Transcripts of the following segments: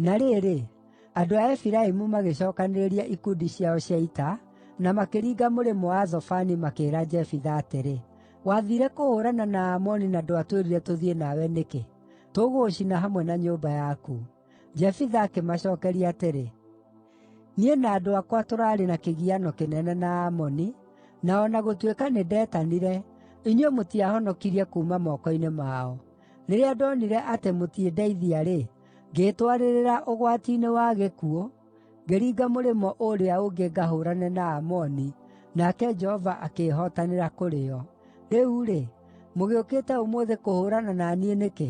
Na rĩrĩ, andũ a Efiraimu magĩcookanĩrĩria ikundi ciao cia ita, na makĩringa mũrĩmo wa Zafoni makĩĩra Jefitha atĩrĩ, “Wathiire kũhũũrana na Aamoni na ndwatwĩrire tũthiĩ nawe nĩkĩ? Tũgũgũcina hamwe na nyũmba yaku!” Jefitha akĩmacookeria atĩrĩ, “Niĩ na andũ akwa tũraarĩ na kĩgiano kĩnene na Aamoni, na o na gũtuĩka nĩndetanire, inyuĩ mũtiahonokirie kuuma moko-inĩ mao. Rĩrĩa ndonire atĩ mũtindeithia-rĩ, ngĩĩtwarĩrĩra ũgwati-inĩ wa gĩkuũ, ngĩringa mũrĩmo ũũrĩa ũngĩ ngahũũrane na Aamoni, nake Jehova akĩĩhotanĩra kũrĩ o. Rĩu-rĩ, mũgĩũkĩte ũmũthĩ kũhũũrana na niĩ nĩkĩ?”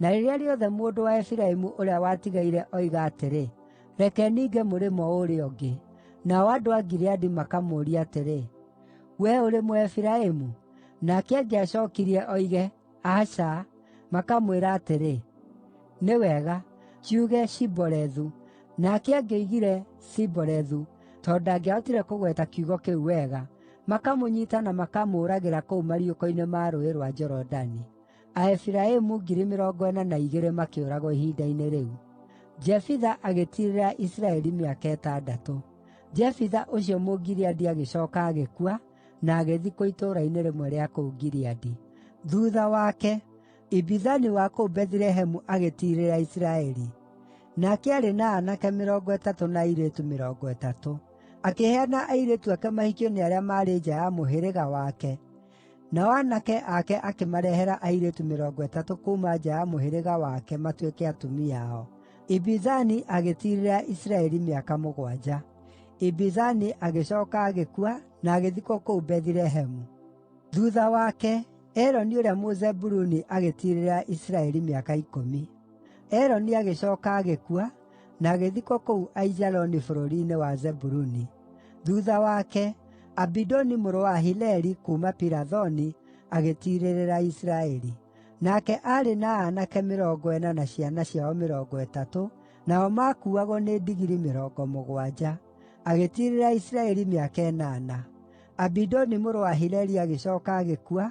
Na rĩrĩa rĩothe mũndũ wa Efiraimu ũrĩa watigaire oiga atĩrĩ, “Reke ninge mũrĩmo ũũrĩa ũngĩ,” nao andũ a Gileadi makamũũria atĩrĩ, “Wee ũrĩ Mũefiraimu?” Nake angĩacookirie oige, “Aca,” makamwĩra atĩrĩ, “Nĩ wega, kiuge Shibolethu.” Nake angĩoigire, “Sibolethu,” tondũ ndangĩahotire kũgweta kiugo kĩu wega, makamũnyiita na makamũũragĩra kũu mariũko-inĩ ma Rũũĩ rwa Jorodani. Aefiraimu 42,000 makĩũragwo ihinda-inĩ rĩu. Jefitha agĩtiirĩrĩra Isiraeli mĩaka ĩtandatũ. Jefitha ũcio Mũgileadi agĩcooka agĩkua, na agĩthikwo itũũra-inĩ rĩmwe rĩa kũu Gileadi. Thuutha wake, Ibizani wa kũu Bethilehemu agĩtiirĩrĩra Isiraeli. Nake aarĩ na aanake mĩrongo ĩtatũ na airĩtu mĩrongo ĩtatũ. Akĩheana airĩtu ake mahikio nĩ arĩa maarĩ nja ya mũhĩrĩga wake, Nao aanake ake akĩmarehera airĩtu mĩrongo ĩtatũ kuuma nja ya mũhĩrĩga wake matuĩke atumia ao. Ibizani agĩtiirĩrĩra Isiraeli mĩaka mũgwanja. Ibizani agĩcooka agĩkua na agĩthikwo kũu Bethilehemu. Thuutha wake, Eloni ũrĩa Mũzebuluni agĩtiirĩrĩra Isiraeli mĩaka ikũmi. Eloni agĩcooka agĩkua, na agĩthikwo kũu Aijaloni bũrũri-inĩ wa Zebuluni. Thuutha wake, Abidoni mũrũ wa Hileli, kuuma Pirathoni, agĩtiirĩrĩra Isiraeli. Nake aarĩ na aanake mĩrongo ĩna na ciana ciao mĩrongo ĩtatũ, nao maakuuagwo nĩ ndigiri mĩrongo mũgwanja. Agĩtiirĩrĩra Isiraeli mĩaka ĩnana. Abidoni mũrũ wa Hileli agĩcooka agĩkua,